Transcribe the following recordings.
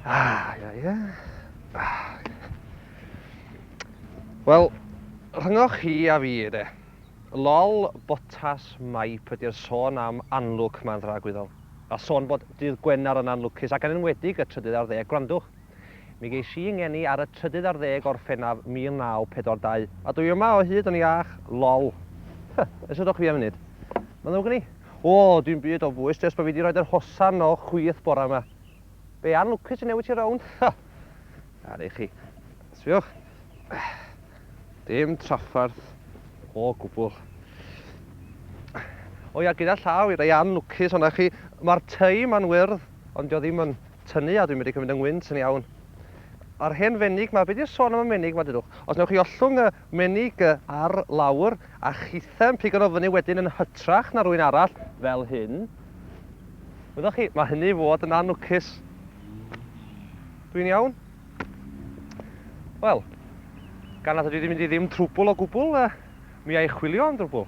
Ah, ia, ia. Ah. Wel, rhyngoch chi a fi, de. Lol, botas maip ydy'r sôn am anlwc mae'n ddragwyddol. A sôn bod dydd Gwener yn anlwcus, ac yn enwedig y trydydd ar ddeg, gwrandwch. Mi ges i 'y ngeni ar y trydydd ar ddeg o Orffennaf 1942. A dwi yma o hyd yn iach, lol. Huh, ers y do chwi am funud. Mae'n ddrwg gen i? O, dim byd o bwys, jyst bod fi 'di rhoid yr hosan o chwith bore 'ma. Be, Ann Lwcus sy'n newid ti rownd? Huh! Ar eich chi. Sbiwch. Dim trafferth o gwbl. O ia, gyda llaw i rei Ann Lwcus o'na chi, mae'r tŷ 'ma'n wyrdd. Ond dio ddim yn tynnu a dwi'n medru cymryd 'y ngwynt yn iawn. A'r hen fenig 'ma, be' 'di'r sôn am y menig 'ma dudwch? Os newch chi ollwng y menig ar lawr a chithau'n pigo nw fyny wedyn yn hytrach na rywun arall, fel hyn, wyddoch chi, ma' hynny i fod yn anwcus. Dwi'n iawn? Wel, gan nad ydw i 'di mynd i ddim trwbwl o gwbwl, mi a' i chwilio am drwbwl.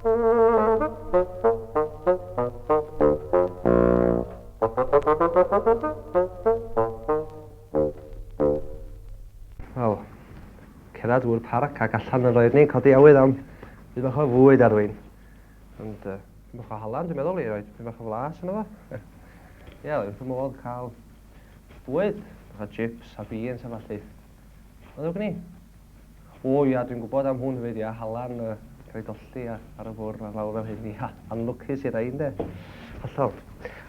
Wel, cerdded drwy'r parc ac allan yn roedd ni'n codi awydd am byd bach o fwyd ar rwy'n. Ond uh, byd bach o halan, dwi'n meddwl i roed byd bach o flas yna fo. Ie, yeah, wrth y modd cael bwyd, bach o chips a beans a falle. Mae'n ddrwg gen i. O ia, dwi'n gwybod am hwn hefyd, ia, Halan, uh, rhaid olli a, ar y fwrn a lawr fel hyn, ia, anlwcus i rai, ynde? Hollol.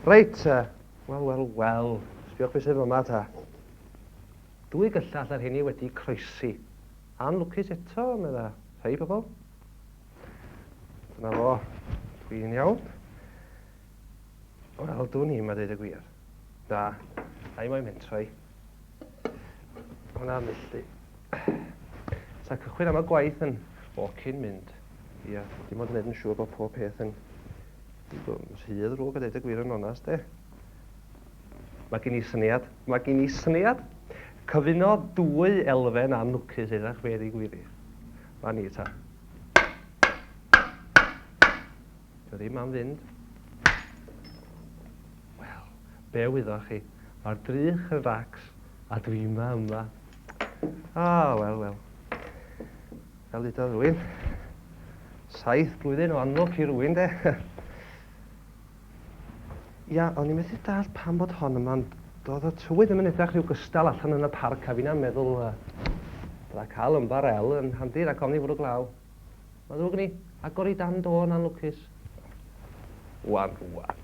Reit, uh, wel, wel, wel, sbiwch beth sydd yma ta. Dwy gyllall ar hynny wedi croesi. Anlwcus eto, medda, rhai pobl. Dyna fo, dwi'n iawn. O'r Aldwn i, mae dweud y gwir. Da. A i moyn mentrau. Hwna milltu. Sa cychwyn am y gwaith yn ffocin mynd. Ia, dim ond wneud yn siŵr bod pob peth yn rhydd rhwg a dweud y gwir yn onast, e. Mae gen i syniad, mae gen i syniad. Cyfuno dwy elfen a nwcus eithach fe ddigwyddith. Fan ni ta. Dio ddim am fynd. Wel, be wyddoch chi? Mae'r drych yn racs a dwi yma yma. A, oh, wel, wel. Fel dudodd rwy'n. Saith blwyddyn o anlwc i rwy'n, de. Ia, o'n i'n methu dall pam bod hon yma'n Doedd y tywydd ddim yn edrych rhyw gystal allan yn y parc a fi'n am meddwl uh, bydda cael yn barel yn handi rhag ofni fwrw glaw. Mae ddrwg gen i. Agor i dan do yn anlwcus. Wan, wan.